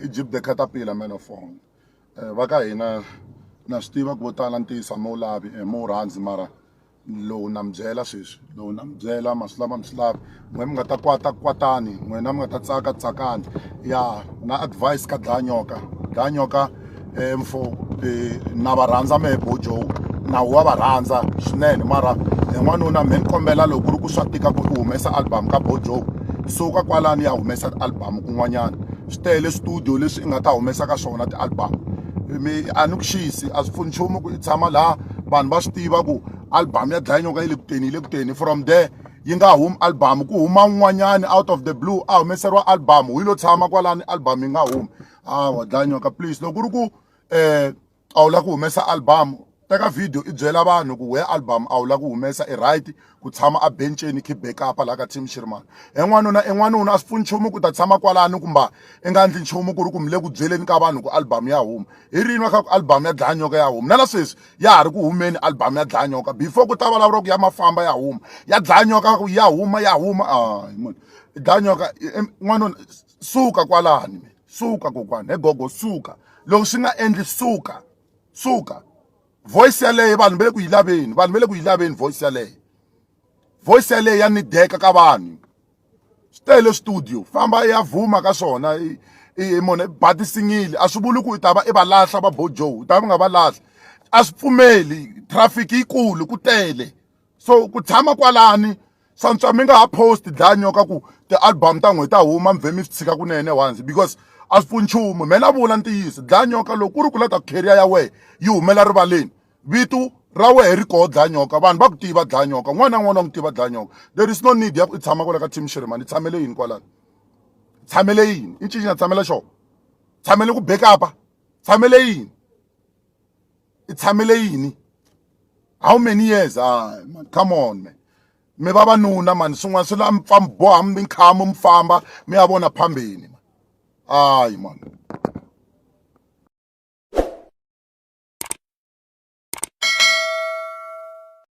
egypt the caterpillar man of all eh, va ka hina na swi tiva ku vo tala ntiyisa mo lavi eh, mo rhandzi mara lowu na mi byela sweswi lowu na mi byela ma swi lava mi swi lavi n'we mi nga ta kwata kwatani n'wina mi nga ta tsaka tsakani ya na advice ka dlayanyoka dlayanyoka um mfo um na va rhandza mehe bojo nawu wa va rhandza swinene mara hi n'wanuna mhe ni kombela loko ku ri ku swa tika ku u humesa album ka bojo suka kwalani ya humesa album kun'wanyana swi tele studio leswi i nga ta humesa ka swona ti-album mi a ni ku xisi a swi pfuni nchumu ku i tshama laha vanhu va swi tiva ku album ya dlaya nyoka yi le kuteni yi le kuteni from there yi nga humi album ku huma un'wanyani out of the blue a humeseriwa album hi lo tshama kwalani album yi nga humi a wa dlaya nyoka please loko ku ri ku um a wu lava ku humesa album teka video i byela vanhu ku we album a wu lava ku humesa i right ku tshama a benceni keep back up laha ka team xirmani en'wanuna en'wanuna a swi pfuni nchumu ku ta tshama kwalani kumba i nga ndli nchumu ku ri ku mi le ku byeleni ka vanhu ku album ya huma hi rini wa kha ku album ya dlaya nyoka ya huma na la sweswi ya ha ri ku humeni album ya dlaya nyoka before ku ta vulavula ku ya mafamba ya huma ya dlaya nyoka ku ya huma ya huma a hi munhu dlaya nyoka n'wanuna suka kwalani mina suka kokwana he gogo suka loko swi nga endli suka suka voice yaleyo vanhu va le ku yi laveni vanhu va le ku yi laveni voice yaleyo voice yaleyo ya ni deka ka vanhu swi tele studio famba ya vhuma ka swona mona ba tisingile a swi vuli ku i ta va i va lahla va bojo u ta va nga va lahla a swi pfumeli traffic yikulu ku tele so ku tshama kwalani santswa mi nga ha post dlanyo ka ku ti-album ta n'hweti ta huma mi vhe mi swi tshika kunene once because a swi pfuni nchumu me na vula ntiyiso dlanyoka loko ku ri ku la ta carrier ya wehe yi humela rivaleni vitu ra wehe ri koho dlanyoka vanhu va ku tiva dlanyoka n'wana na n'wana wa n'wi tiva dlanyoka there is no need ya ku i tshama kwala ka team shirimani i tshamele yini kwalani tshamele yini i ncini na tshamela xona tshamele ku bekapa tshamele yini i tshamele yini how many years ah man come on man mi vavanuna mani swin'wana swi la mi pfa mi boha mi nkhamu mi famba mi ya vona phambeni ayi mani